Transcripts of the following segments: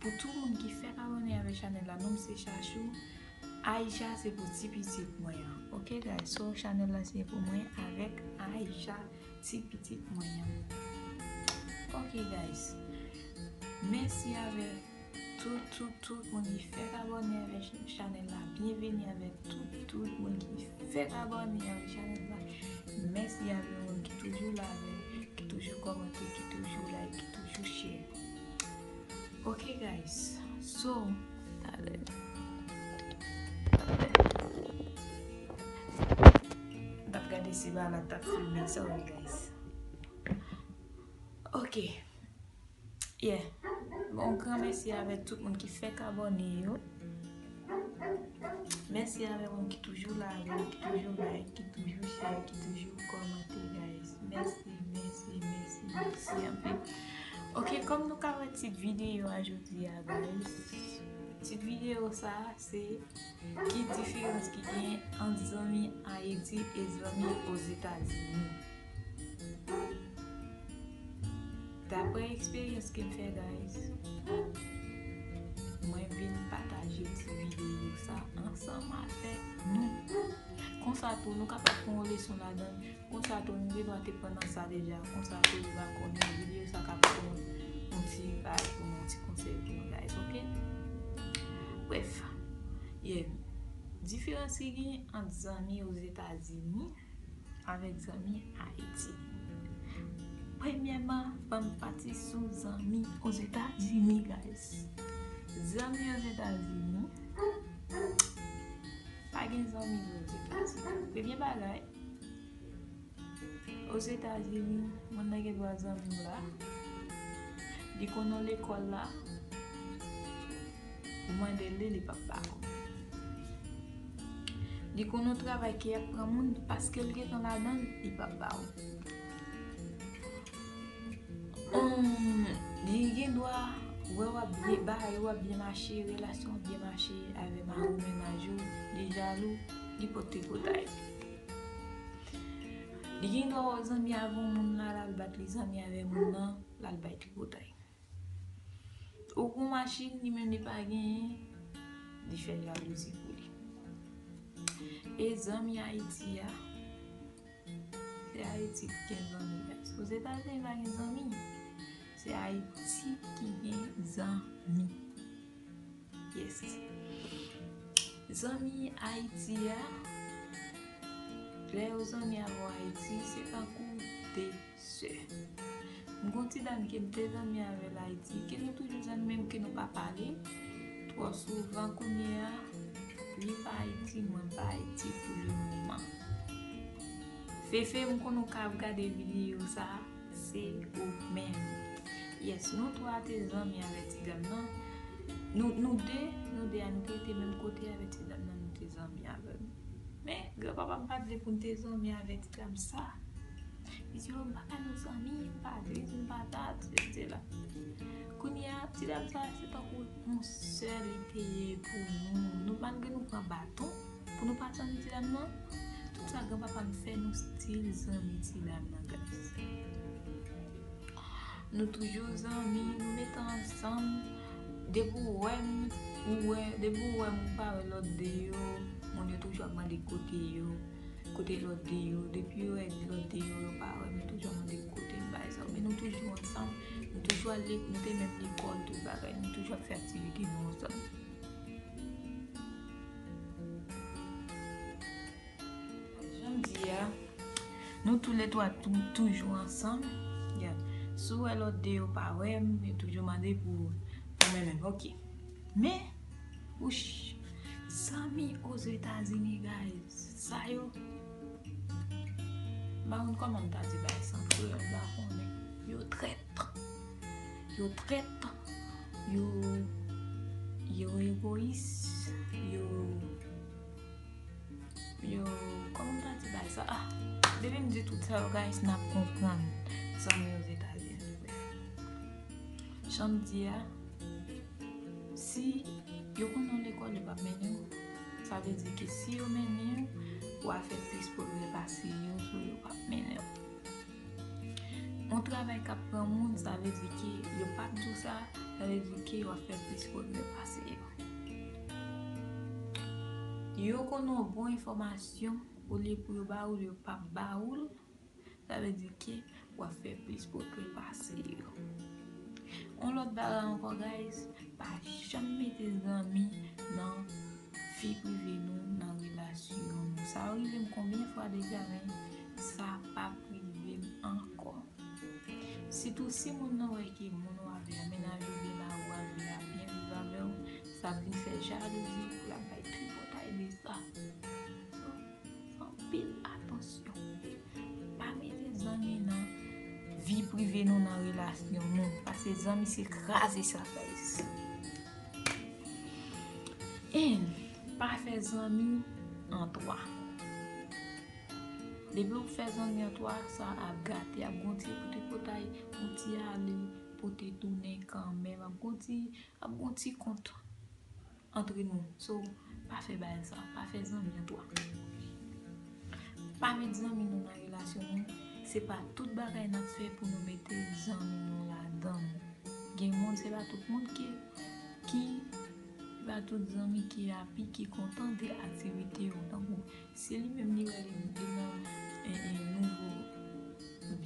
Pou tout moun ki fèk abone avèk chanèl la nom se chachou Aïcha se pou ti pitit mwen an ok guys so chanèl la se pou mwen avèk Aïcha ti pitit mwen an ok guys mèsi avèk tout tout tout moun ki fèk abone avèk chanèl la byen vini avèk tout tout moun ki fèk abone avèk chanèl la mèsi avèk moun ki toujou la avèk ki toujou kòmante ki toujou like ki toujou share. Ok guys so tale. Tap gade si ba la tap filme sorry guys. Ok yeah bon gran mèsi avèk tout moun ki fèk abone yo. Mèsi avèk moun ki toujou la avèk nou, ki toujou like, ki toujou share, ki toujou kòmante guys. Mèsi, mèsi, mèsi, mèsi anpil. Ok, kòm nou ka wè tit videyo a jodi a guys. Tit videyo sa a se ki diferans ki gen ant zanmi Ayiti e zanmi Ozetazini. Daprè eksperyans kem fè guys mwen vin pataje ti videyo sa ansanm avèk nou konsa tou nou kapab pran yon leson ladann konsa tou nou gendwa te pran nan sa deja konsa tou nou va konnen videyo sa ka pou nou yon ti bagay pou nou yon ti konsèy pou nou guys ok bref diferans ki gen ant zanmi ozetazini Avèk zanmi Ayiti. Premyèman, fòm pati sou zanmi Ozetazini, guys. Zanmi Ozetazini, pa gen zanmi Ozetazini. Premye bagay, Ozetazini, moun nan gen dwa zanmi w la, li konnen w lekòl la. Ou mande li, li pap ba ou. Li konn yon travay ki ap pran moun, paske l gen tan ladan l, li pap ba ou. Li gen dwa wè w ap byen, bagay yo ap byen mache, relasyon ap byen mache avè mari ou mennaj ou, li jalou, li pot tripotay. Li gen dwa wè w zanmi avè yon moun la, l al bat li zanmi avè moun nan, l al bay tripotay. Ou gon machin li menm li pa genyen li fè jalouzi pou li e zanmi ayiti a se ayiti ki gen zanmi ozetazini pa gen zanmi se ayiti ki gen zanmi yes zanmi ayiti a lè yo zanmi avèw ayiti se tankou 2 Sè. M gon ti dam kem te zanmi avèl Ayiti ke nou toujou zanmi men ke nou pa pale twò souvan kounyea li pa Ayiti mwen pa Ayiti pou le moman. Fefe m konnen w ka ap gade video sa se ou menm. Yes nou 3 te zanmi avè ti dam nan nou nou 2 nou 2 a nou te rete menm kote avè ti dam nan nou te zanmi avèl men gran papa m pat vle pou n te zanmi avè ti dam sa. Li di yo m pa ka nou zanmi, m pa di m patat, sesi sela. Kounye a, ti dam sa se tankou yon sè li te ye pou nou. Nou malgre nou pran baton pou nou pa zanmi ti dam nan, tout sa granpapa m fè nou stil zanmi ti dam nan guys. Nou toujou zanmi, nou met ansanm, depi w wè m, ou wè, depi w wè m ou pa wè lòt 2 yo, moun yo toujou ap mande kote yo. Kote lòt de yo? Depi yo wè lòt de yo, yo pa wè m, yo toujou ap mande m kote m bay sa yo. Men nou toujou ansanm, nou toujou al lekòl, nou te menm lekòl, tout bagay. Nou toujou ap fè aktivite nou ansanm. Jan m di a, nou toule twa toujou ansanm. Si w wè lòt de yo pa wè m, yo toujou mande pou mwen menm. Ok. Men. Wouch! Zanmi Ozetazini guys! Sa yo M pa konn kòman m ta di bagay sa an kreyòl m pa konnen. Yo trèt! Yo trèt! Yo Yo egoyis! Yo Yo Kòman m ta di bagay sa ah! Depi m di tout sa yo guys n ap konprann Zanmi Ozetazini. Jan m di a. Si yo konn yon lekòl yo pap mennen w, sa vle di ke si yo mennen w, wa fè plis pwogrè pase yo sou yo pap mennen w. Yon travay kap pran moun, sa vle di ke yo pap di w sa, sa vle di ke wa fè plis pwogrè pase yo. Yo konn yon bon enfòmasyon, olye pou yo ba ou l, yo pap ba ou l. Sa vle di ke w ap fè plis pwogrè pase yo. Yon lòt bagay ankò guys, pa janm mete zanmi nan vi prive nou, nan relasyon nou. Sa rive m konbyen fwa deja men sa pa p rive m ankò. Sitou si moun nan wè ke moun w avè a, mennaj ou byen la, ou avè a byen viv avè w, sa vin fè jalouzi, l ap bay tripotay de sa. Anpil atansyon. Pa mete zanmi nan vi prive nou nan relasyon nou. Pase zanmi se kraze sa guys. En, pa fe zanmi an 3. Depi ou fe zanmi an 3, sa ap gate. Ap gon ti pote potay, gon ti ale, pote tounen kanmen. Ap gon ti kont. Antre nou So pa fè bagay sa Pa fè zanmi an twa Pa met zanmi nou nan relasyon nou Se pa tout bagay n ap fè pou nou mete zanmi nou ladan Gen moun se pa tout moun ke ki Se pa tout zanmi ki api ki kontante aktivite yo tankou Se li menm li wè li nan nouvo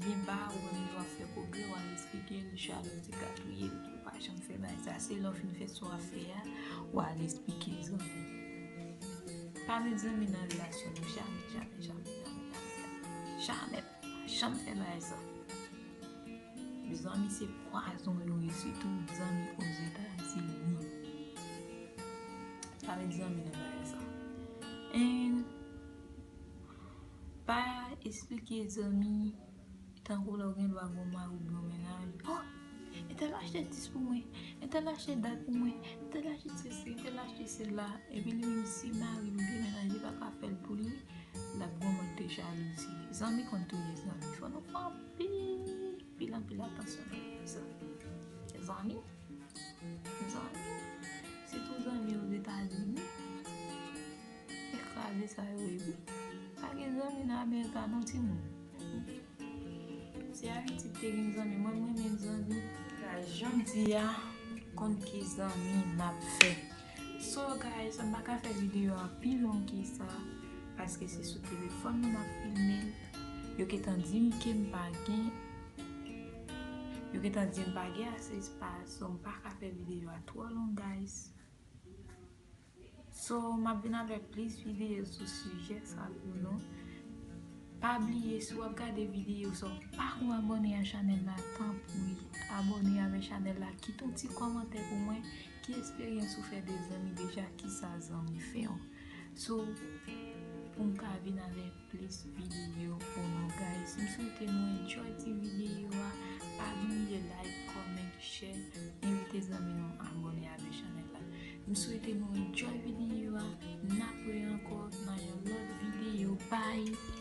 byen ba ou menm li wap fè problème wap esplike li Charlotte te gatouyel pou li pa janm fè bagay sa se lè ou fin fè sa wap fè a ou al esplike zanmi pa met zanmi nan relasyon nou jamè jamè jamè jamè jamè jamè. Pa janm fè bagay sa. Zanmi se pwazon yo ye sitou zanmi ozetazini. Pa met zanmi nan bagay sa. And pa esplike zanmi tankou lè ou gen dwa gen yon mari oubyen yon mennaj. Entèl achte 10 pou mwen, entèl achte dat pou mwen, entèl achte sesi, entèl achte sela, epi li menm si mari li demenaje pa ka fèl pou li, lap gon mòd de jalouzi. Zanmi konn touye zanmi, fò nou fè anpil, anpil, anpil atansyon nan vi zanmi. Zanmi, zanmi, sitou zanmi ozetazini, ekraze sa yo epi, pa gen zanmi nan amerika non timoun. Si Aristide te gen zanmi mwen m renmen l zanmi. Sa janm di a konn ki zanmi map fè. So guys m paka fè video a pi long ke sa paske se sou telefòn mwen map filme l. Yo gentan dim ke m pa gen yo gentan dim pa gen ase espas so m paka fè video a twò long guys. So map vin avèk plis videyo sou sijè sa pou nou. Pa bliye si wap gade videyo sa ou pako abone a chanèl la tanpri abone avè chanèl la kite yon ti kòmantè pou mwen ki esperyans ou fè de zanmi deja kisa zanmi fèw so poum ka vin avèk plis video pou nou guys m swete nou enjoy ti video a pa bliye like comment share envite zanmi nou abone avè chanel la m swete nou enjoy video a nap wè ankò nan yon lòt video bye.